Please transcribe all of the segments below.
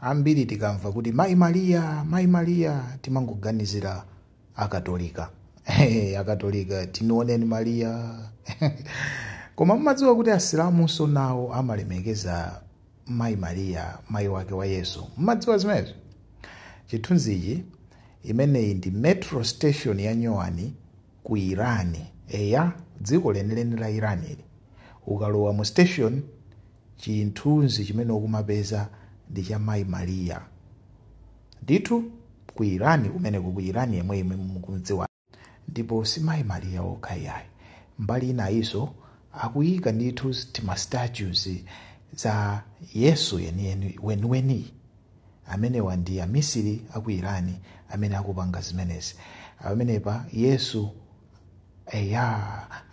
ambiri tikamva kuti mayi mariya mayi mariya timangoganizira akatolika akatolika tinioneni mariya koma mumadziwa kuti asilamunso nawo amalemekeza mayi mariya mayi wake wa yesu mumadziwa zimenezo chithunzichi imeneyi ndi metro station ya nyowani ku irani eya dziko lenileni la irani ili ukalowa mu station Chithunzi chimene ukumapeza ndi cha Mayi Maria. Ndithu, ku Iran kumeneko, ku Iran yemwe yemwe mukumdziwayo. Ndipo si Mayi Maria okha iyayi. Mbali inayinso akuyika ndithu tima statues za Yesu weniweni. Amenewa ndi amisiri a ku Iran amene akupanga zimenezi. Pamenepa Yesu eya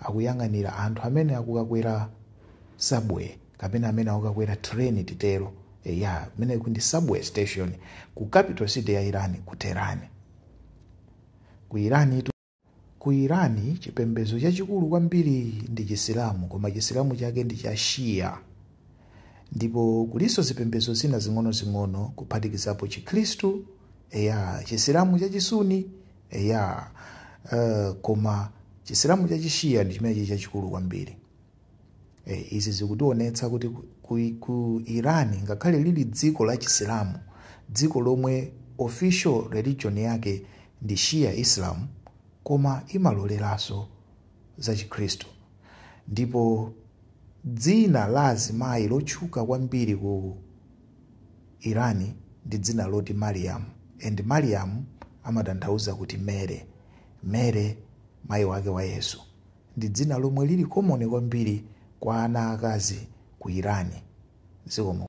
akuyang'anira anthu amene akukakwera subway kapena amene akukakwera train titero eya imene ndi subway station ku capital city ya irani ku tehran ku irani ku irani chipembedzo chachikulu kwambiri ndi chisilamu koma chisilamu chake ndi cha shia ndipo kulinso zipembedzo zina zing'onozing'ono kuphatikizapo chikhristu eya chisilamu chachisuni eya uh, koma chisilamu cha chishiya ndi chimene chili chachikulu kwambiri e, izi zikutionetsa kuti ku, ku, ku iran ngakhale lili dziko la chisilamu dziko lomwe official religion yake ndi shia islam koma imaloleranso za chikhristu ndipo dzina la azimayi lotchuka kwambiri ku Iran ndi dzina loti Mariam and Mariam amatanthauza kuti Mary. Mary mayi wake wa Yesu ndi dzina lomwe lili common kwambiri kwa ana aakazi ku Iran. Zikomo.